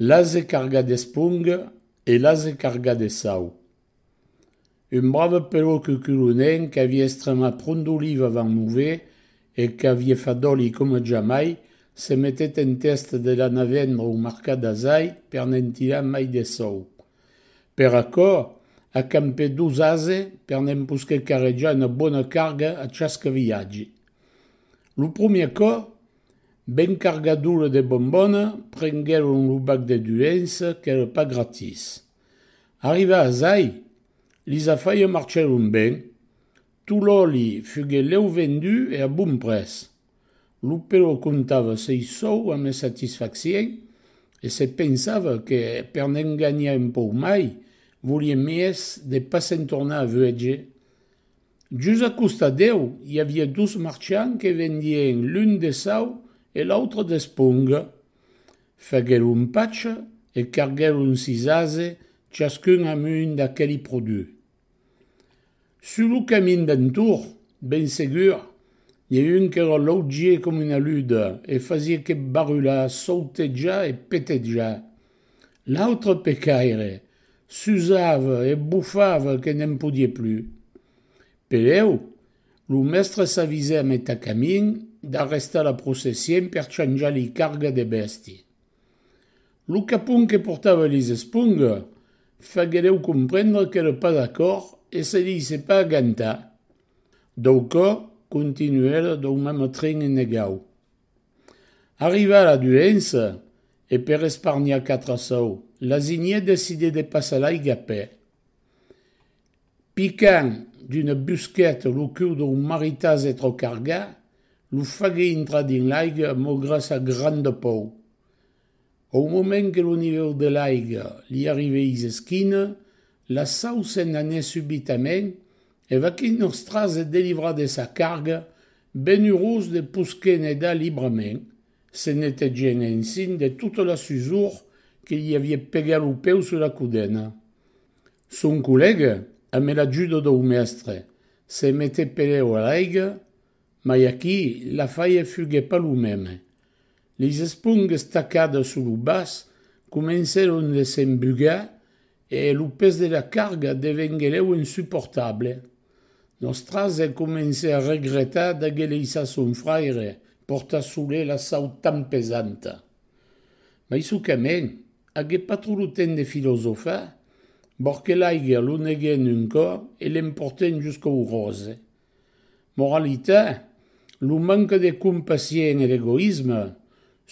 L'ase carga d'esponga e l'ase carga de sau. Un brave pelò cuculonenc qu'avie estremat pron d'oliva van Nouvé e qu'avie fat d'òli coma jamai, se metèt en tèsta de l'anar vendre au marcat d'Azai per ne'n tirar mai de sòu. Per aquò, a campè dos ase per ne'n posquer carrejar una bona carga a chasque viatge. Lo promier còp, Ben cargadure de bombona, prenguèron lo bac de duens qu'èra pas gratis. Arrivats ai, lis afaires marchèron ben, tot l'òli fuguet lèu vendu e a bon prètz. Lo pelò comptava sei sòu amé satisfaccièn e se pensava que per ne'n ganhar un pauc mai, volie mies de pas se'n tornar a vuètge. Just a costat deu i aviá dos marchants que vendien l'un de sau e l'autre d'esponga. Faguèron un patch e carguèron sis ases chascun amb un d'aqueli produch. Sus lo camin d'entorn, ben segur, n'i a un qu'èra laugier com una luda e fasiá que barular, sautejar e petejar. L'autre pecaire s'usava e bufava que ne'n podie plus. Peleu, lo mèstre s'avisè met a camin d'arrestar la processien per chanjar li carga de bèsti. Lo capon que portava lis esponga faguereu comprendre qu'ère pas d'acòrd e se deisè pas agantar. Dau cò, continuèrè dau mème tren enegau. Arriva la duença e per esparniar quatre sòu, Lasigné decide de passar l'aiga per. Picant d'una busqueta lo cul d'un maritase tròc argat, lo fague intrar dins l'aiga maugrat sa granda pòu. Au moment que lo nivèu de l'aiga li arrivèís esquina, la sau se n'anèt subitament e vaquí Nòstra se delivra de sa carga, ben urós de posquer nedar librament, se netegènt ensin de tota la susor que li aviá pegat lo peu sus la codena. Son collèga, amé l'ajuda dau mèstre, se metèt pelèu a l'aiga, Mai aquí, l'afaièr fuguèt pas lo mème. Lis espongues tacadas sus lo bas comencèron de s'embugar e lo pes de la carga devenguèleu insuportable. Nos trasè comencè a regretar d'aguer leissat son fraire portar solé la sau tan pesanta. Mai çò que mèn, agué pas trop lo temps de filosofar, borque l'aiga lo neguèn un còp e l'emportèn jusqu'au ròse. Moralitat, Lo manca de compassion e d'egoïsme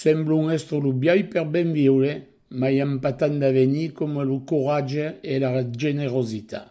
semblon èstre lo biais per ben viure, mai empatan d'avenir coma lo coratge e la generositat.